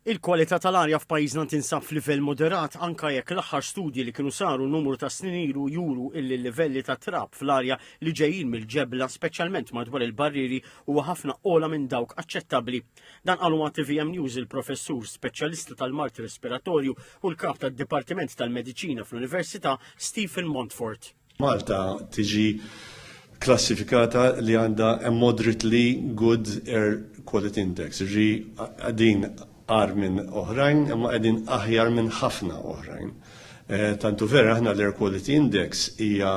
Il-kwalità tal-arja f'pajjiżna tinsab f'livell moderat anke jekk l-aħħar studji li kienu saru numru ta' snin ilu juru illi l-livelli ta' trab fl-arja li ġejjin mill-ġebla speċjalment madwar il-barrieri huwa ħafna ogħla minn dawk aċċettabbli. Dan qalu ma' TVM News il-professur speċjalista tal-mard respiratorju u l-kap tad-Dipartiment tal-Mediċina fl-Università Stephen Montfort. Malta tiġi klassifikata li għandha a moderately good air quality index, ġi għadin għar minn oħrajn, imma għadin aħjar minn ħafna oħrajn. Eh, tantu vera aħna l-air quality index hija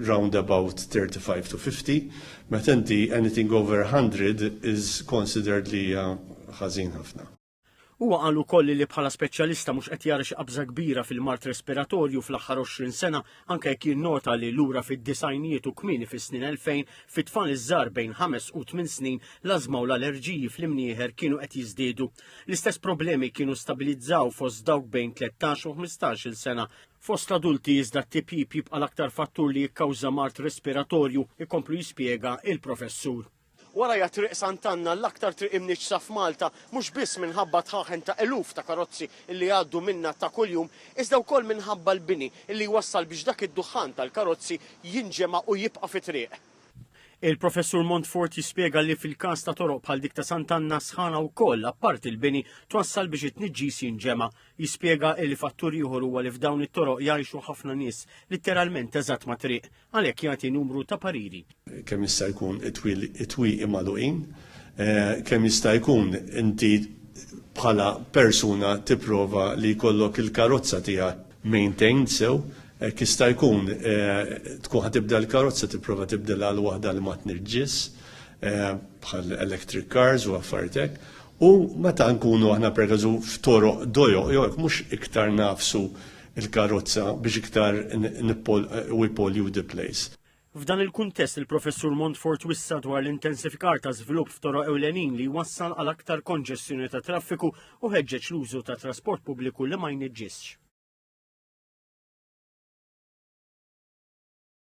round about 35 to 50, meta inti anything over 100 is considered li hija ħażin ħafna. Huwa qal ukoll li bħala speċjalista mhux qed jara xi qabża kbira fil-mard respiratorju fl-aħħar 20 sena anke jekk jinnota li lura fid-disgħinijiet u kmieni fis-snin 2000 fit-tfal iż-żgħar bejn ħames u tmien snin l-ażma u l-allerġiji fl-imnieħer kienu qed jiżdiedu. L-istess problemi kienu stabilizzaw fost dawk bejn 13 u 15-il sena Fost l-adulti iżda t-tipjip jibqa' l-aktar fattur li jikkawża mard respiratorju, ikomplu jispjega il-professur. Warajha Triq Sant'Anna, l-aktar triq imniġġsa f'Malta, mhux biss minħabba t-tħaħen ta' eluf ta' karozzi li jgħaddu minnha ta' kuljum, iżda wkoll minħabba l-bini li jwassal biex dak id-duħħan tal-karozzi jinġema' u jibqa' fit-triq. Il-Professur Montfort jispjega li fil-każ ta' toroq bħal dik ta' Sant'Anna sħana wkoll apparti l-bini twassal biex it-tniġġis jinġema'. Jispjega li fattur ieħor huwa li f'dawn it-toroq jgħixu ħafna nies, litteralment eżatt mat-triq. Għalhekk jagħti numru ta' pariri. Kemm jista' jkun it-twieqi magħluqin, kemm jista' jkun inti bħala persuna tipprova li jkollok il-karozza tiegħek maintained sew, hekk jista' jkun tkun ħa tibda l-karozza tipprova tibdilha għal waħda li ma tniġġis bħal electric cars u affarijiet hekk. U meta nkunu aħna perkażu f'toroq dojoq jew hekk mhux iktar nafsu il-karozza biex iktar we pollute the place. F'dan il-kuntest il-Professur Montfort wissa dwar l-intensifikar ta' żvilupp f'toroq ewlenin li jwassal għal aktar konġestjoni ta' traffiku u ħeġġeġ l-użu ta' trasport pubbliku li ma jniġġisx.